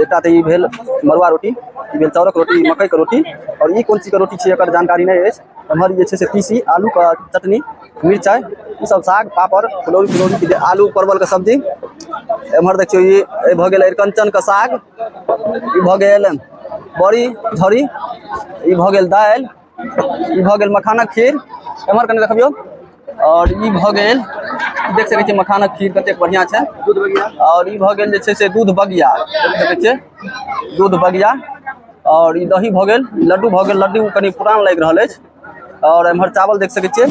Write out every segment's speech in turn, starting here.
एकटा तऽ ई भेल मड़ुआ रोटी ई भेल चाउरक रोटी मकइके रोटी आओर ई कोन चीजके रोटी छै एकर जानकारी नहि अछि एम्हर जे छै से तीसी आलूके चटनी मिरचाइ ईसभ साग पापड़ फुलौरी फुलौरी आलू परवलके सब्जी एम्हर देखियौ ई ई भऽ गेल अरिकञ्चनके साग ई भऽ गेल बड़ी झड़ी ई भऽ गेल दालि ई भऽ गेल मखानक खीर एम्हर कनि देखबियौ आओर ई भऽ गेल देख सकै छियै मखानक खीर कतेक बढ़िआँ छै आओर ई भऽ गेल जे छै से दूध बगिया देख सकै छियै दूध बगिया आओर ई दही भऽ गेल लड्डू भऽ गेल लड्डू कनि पुरान लागि रहल अछि आओर एम्हर चावल देख सकै छियै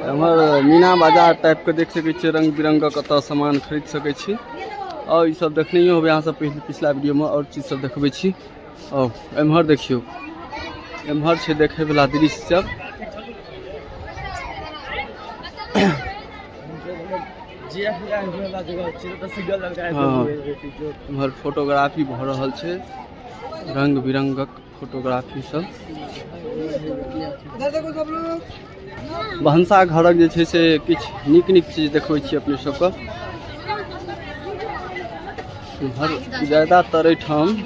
एम्हर मीना बाजार टाइपके देख सकै छियै रङ्ग बिरङ्गक एतऽ सामान खरीद सकै छी आओर ई सब देखनैयो होबै अहाँ सब पहिले पिछला वीडियोमे आओर चीज सब देखबै छी आओर एम्हर देखियौ एम्हर छै देखैवला दृश्य सब हँ एम्हर फोटोग्राफी भऽ रहल छै रङ्ग बिरङ्गक फोटोग्राफी सब भनसा घरक जे छै से किछु नीक नीक चीज देखबै छी अपने सबके हर ज्यादातर एहिठाम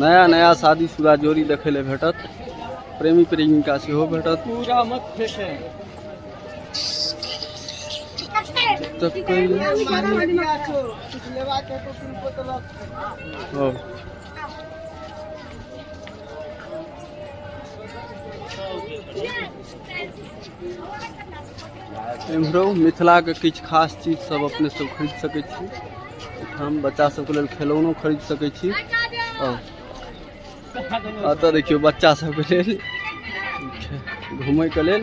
नया नया शादी शुदा जोड़ी देखै लए भेटत प्रेमी प्रेमिका सेहो भेटत तब कहियो- ओ एम्हरो मिथिलाके किछु खास चीज सब अपने सब खरीद सकै छी हम बच्चा सबके लेल खेलौनो खरीद सकै छी एतऽ देखियौ बच्चा सबके लेल घुमैके लेल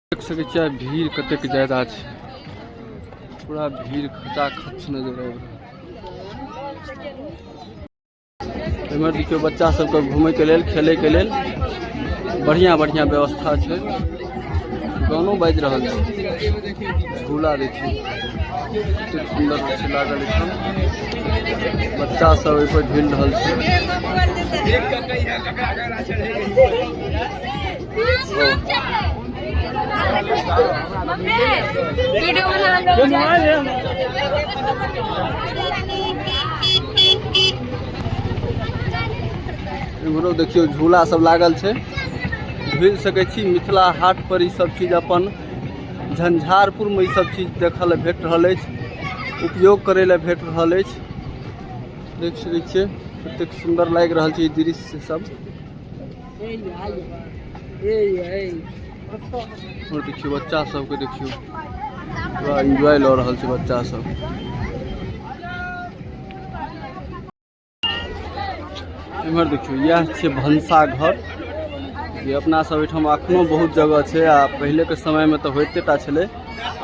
देख सकै छियै भीड़ कतेक ज्यादा छै पूरा भीड़ खचा खच नजर आबि रहल एम्हर देखियौ बच्चा सबके घूमयके लेल खेलयके लेल बढ़िआँ बढ़िआँ व्यवस्था छै गानो बाजि रहल छै झूला देखियौ कतेक सुन्दर छै लागल एखन बच्चा सब ओहिपर झूलि रहल छै वीडियो में हम लोग इम्हरो देखियौ झूला सब लागल छै घुरि सकै छी मिथिला हाट पर ई सब चीज अपन झंझारपुर में ई सब चीज देखऽ लए भेट रहल अछि उपयोग करै लए भेट रहल अछि देख सकै छियै कतेक सुन्दर लागि रहल छै ई दृश्य सब और देखियो बच्चा सब के देखियो पूरा एंजॉय ल रहल छै बच्चा सब इमर देखियो यह छै भंसा घर जे अपना सब एठाम अखनो बहुत जगह छै आ पहिले के समय में तो होते टा छले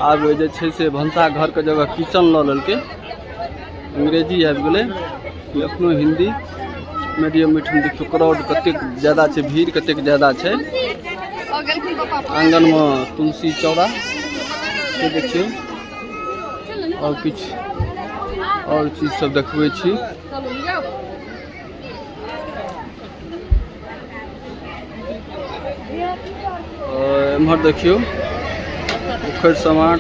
आब जे छै से भंसा घर के जगह किचन ल लेलके अंग्रेजी आबि गेलै कि एखनो हिन्दी मीडियम मिठम देखियौ क्राउड कतेक ज्यादा छै भीड़ कतेक ज्यादा छै आङ्गनमे तुलसी चौड़ा से देखियौ आओर किछु आओर चीजसभ देखबै छी एम्हर देखियौ उखड़ समाट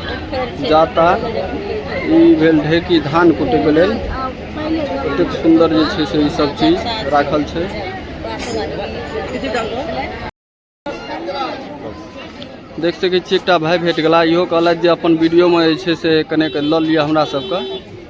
जाता ई भेल ढेकी धान कुटैके लेल कतेक सुन्दर जे छै से ई सब चीज राखल छै देख सकैत छी एकटा भाय भेट गेला इहो कहलथि जे अपन वीडियोमे जे छै से कनेक लऽ लिअ हमरा सबके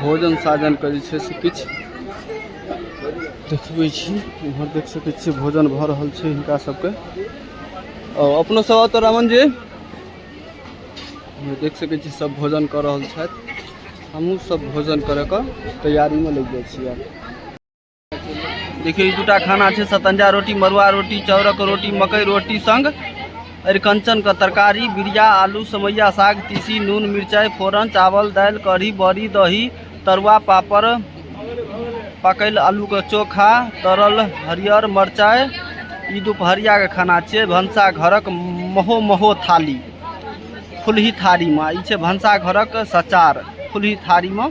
भोजन साजनके जे छै से किछु देखबै छी इम्हर देख सकै छियै भोजन भऽ रहल छै हिनका सबके आओर अपनो सब आउ तऽ रामन जी इम्हर देख सकै छी सब भोजन कऽ रहल छथि हमहूँ सब भोजन करैके तैयारीमे लागि जाइ छी आब देखियौ ई दूटा खाना छै सतंजा रोटी मरुआ रोटी चाउरक रोटी मकई रोटी संग अरिकंचनके तरकारी बिरिया आलू समैया साग तीसी नून मिरचाइ फोरन चावल दालि कढ़ी बड़ी दही तरुआ पापड़ पकैल आलूके चोखा तरल हरियर मरचाइ ई दुपहरियाके खाना छियै भनसा घरक महो महो थाली फुलही थारीमे ई छै भनसा घरक सचार फुलही थारीमे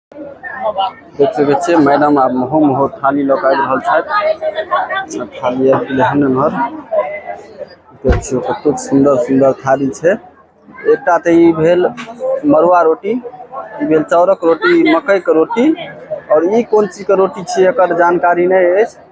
देख सकै छियै मैडम आब महो महो थाली लऽ कऽ आबि रहल छथि थाली आबि गेलै हन एम्हर देख छियै कतेक सुन्दर सुन्दर थाली छै एकटा तऽ ई भेल मड़ुआ रोटी ई भेल चाउरक रोटी मकइके रोटी आओर ई कोन चीजके रोटी छियै एकर जानकारी नहि अछि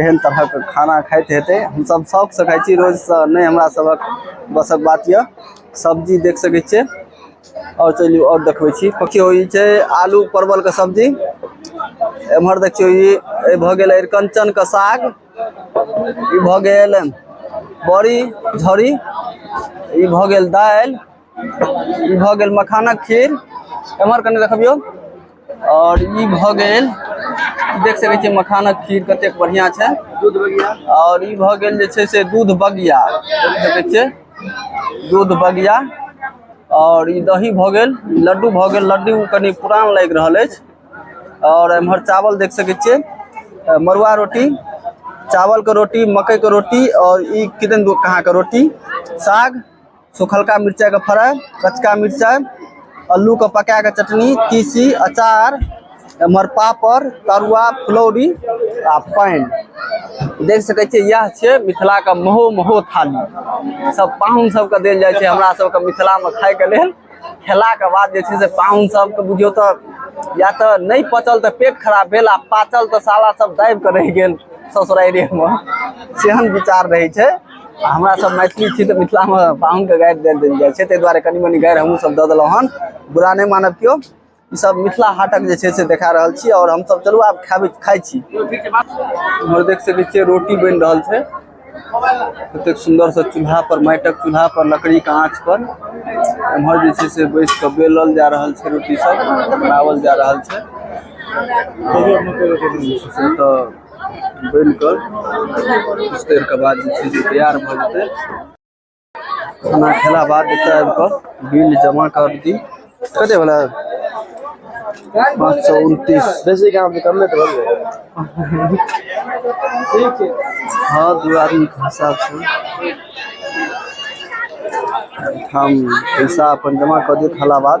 एहन तरहक खाना खाइत हेतै हमसब शौक सऽ खाइ छी रोज सऽ नहि हमरा सबहक बस क बात यऽ सब्जी देख सकै छियै आओर चलू आओर देखबै छी देखियौ ई छै आलू परवल के सब्जी एमहर देखियौ ई भऽ गेल अरिकंचन के साग ई भऽ गेल बड़ी झड़ी ई भऽ गेल दालि ई भऽ गेल मखानक खीर एम्हर कनि देखबियौ आओर ई भऽ गेल देख सकै छियै मखानक खीर कतेक बढ़िआँ छै दूध बगिया आओर ई भऽ गेल जे छै से दूध बगिया देख सकै छियै दूध बगिया आओर ई दही भऽ गेल लड्डू भऽ गेल लड्डू कनि पुरान लागि रहल अछि आओर एम्हर चावल देख सकै छियै अ, मड़ुआ रोटी चावलके रोटी मकइके रोटी आओर ई किदन कहाँके रोटी साग सुखलका मिरचाइ के फ्राई कचका मिरचाइ अल्लू के पका के चटनी तीसी अचार एम्हर पापड़ तरुआ फुलौरी आ पानि देख सकै छियै इएह छियै मिथिला के महो महो थाली सब पाहुन सबके देल जाइ छै हमरा सबके मिथिला मे खाय के लेल खेला के बाद जे छै से पाहुन सबके बुझियौ तऽ या तऽ नहि पचल तऽ पेट खराब भेल आ पाचल तऽ साला सब दाबि कऽ रहि गेल ससुरारिये मे सेहन विचार रहै छै आ हमरा सब मैथिली छी तऽ मिथिलामे पाहुनके गारि दए देल जाइ छै ताहि दुआरे कनी मनी गारि हमहूँ सब दऽ देलहुँ हन बुरा नहि मानब केओ ई सब मिथिला हाटक जे छै से देखा रहल छी आओर हमसब चलू आब खाबे खाइ छी इम्हर देख सकै छियै रोटी बनि रहल छै कतेक सुंदर से चूल्हा पर माटिक चूल्हा पर लकड़ी के आँच पर एम्हर जे छै से बैस कऽ बेलल जा रहल छै रोटी सब बनावल जा रहल छै से तऽ बनि कऽ किछु देरके बाद जे छै से तैयार भऽ जेतै खाना खेला बाद एतय आबि कऽ बिल जमा कर दी कते भेलै पाँच सए उनतीस बेसी काम तऽ कमे तऽ भेलै हँ दू आदमीके हिसाब छै हम पैसा अपन जमा कऽ देत हला बाद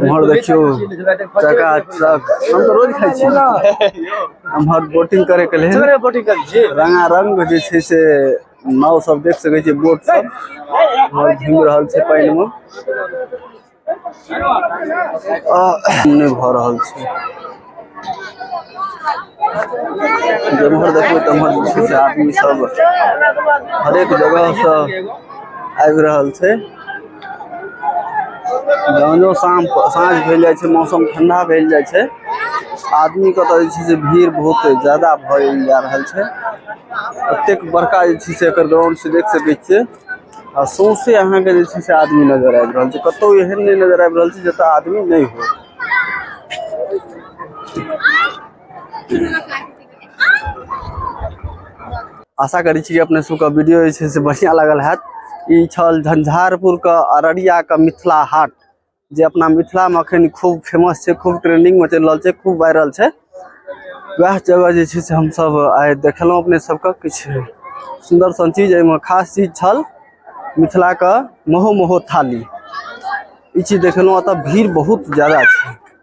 उम्हर देखियौ चका चक हम तो रोज खाइ छी उम्हर बोटिंग करे के लेल बोटिंग करै छी रंगा रंग जे छै से नाव सब देख सकै छी बोट सब और घूम रहल छै पानि में आ, नहि भऽ रहल छै जमहर देखबै तमहर जे छै से आदमी सब हरेक जगह से आबि रहल छै जहनो शाम साँझ भेल जाइ छै मौसम ठंडा भेल जाइ छै आदमी के तऽ जे छै से भीड़ बहुत ज्यादा भऽ जा रहल छै एतेक बड़का जे छै से एकर ग्राउंड से देख सकै छियै आ सौंसे अहाँके जे छै से आदमी नजर आबि रहल छै कतौ एहन नहि नजर आबि रहल छै जतऽ आदमी नहि हो आशा करै छी कि अपने सबके वीडियो जे छै से बढ़िआँ लागल हैत ई छल झंझारपुरके अररियाके मिथिला हाट जे अपना मिथिलामे एखन खूब फेमस छै खूब ट्रेंडिंगमे चलि रहल छै खूब वायरल छै वएह जगह जे छै से हमसब आइ देखलहुॅं अपने सबके किछु सुन्दर सन चीज एहिमे खास चीज छल मिथिलाके महो महो थाली ई चीज देखलहुॅं ओतऽ भीड़ बहुत जादा छै